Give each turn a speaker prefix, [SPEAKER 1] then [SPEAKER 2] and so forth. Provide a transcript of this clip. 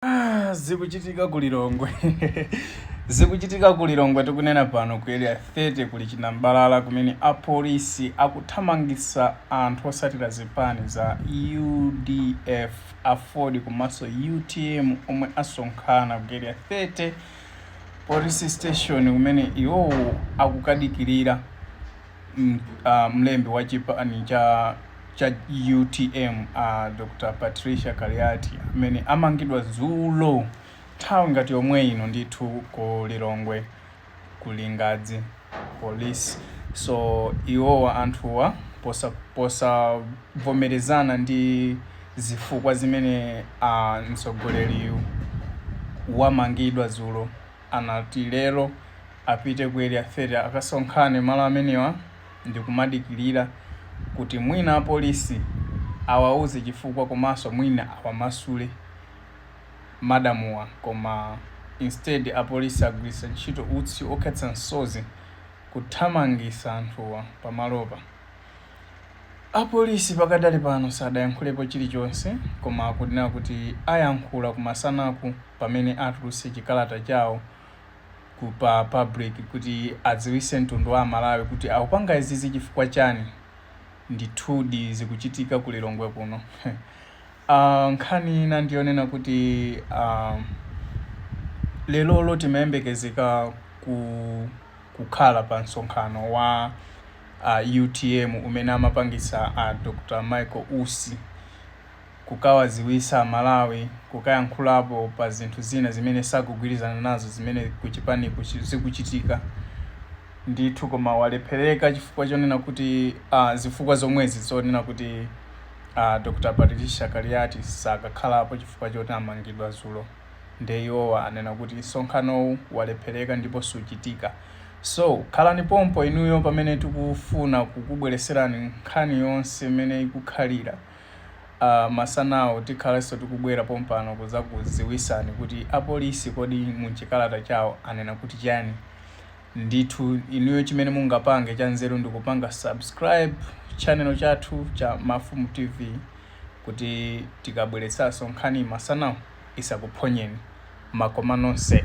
[SPEAKER 1] Ah, zikuchitika ku Lilongwe zikuchitika ku Lilongwe tikunena pano ku area 30 kuli chinambalala kumene apolisi akuthamangitsa anthu otsatira zipani za UDF aford komanso UTM omwe asonkhana ku area 30 police station kumene iwowo akukadikirira Mlembi wa chipani cha cha utm a Dr Patricia Kaliati amene amangidwa dzulo nthawi ngati yomwe ino ndithu ku Lilongwe ku Lingadzi police so iwowa anthuwa posa posavomerezana ndi zifukwa zimene a mtsogoleriyu wamangidwa dzulo anati lero apite ku area 30 akasonkhane malo amenewa ndikumadikilira kuti mwina apolisi awauze chifukwa komanso mwina awamasule madamuwa koma instead apolisi agwiritsa ntchito utsi okhetsa msozi kuthamangitsa anthuwa pamalopa. Apolisi pakadali pano sadayankhulepo chilichonse koma akunena kuti ayankhula kumasanaku pamene atulutse chikalata chawo ku pa public kuti adziwitse mtundu wa amalawi kuti akupanga izizi chifukwa chani ndithudi zikuchitika ku lilongwe kuno uh, nkhani ina ndiyonena kuti uh, lelolo timayembekezeka ku kukhala pa msonkhano wa uh, utm umene amapangitsa a uh, dr michael usi kukawadziwitsa Amalawi, kukayankhulapo pa zinthu zina zimene sakugwirizana nazo zimene kuchipaniku zikuchitika. Ndithu koma walephereka chifukwa chonena kuti uh, zifukwa zomwezi zonena kuti uh, Dr. Patricia Kaliati sakakhalapo chifukwa choti amangidwa dzulo nde iwowa anena kuti msonkhanowu walephereka ndipo suchitika. So khalani pompo inuyo pamene tikufuna kukubweretserani nkhani yonse imene ikukhalira. Aaa masanawa tikhalanso tikubwera pompano kudzakudziwitsani kuti apolisi kodi muchikalata chawo anena kuti chani ndithu inuyo chimene mungapange chanzeru ndikupanga subscribe channel chathu cha mafumu tv kuti tikabweretsanso nkhani masanawa isakuphonyeni makoma nonse.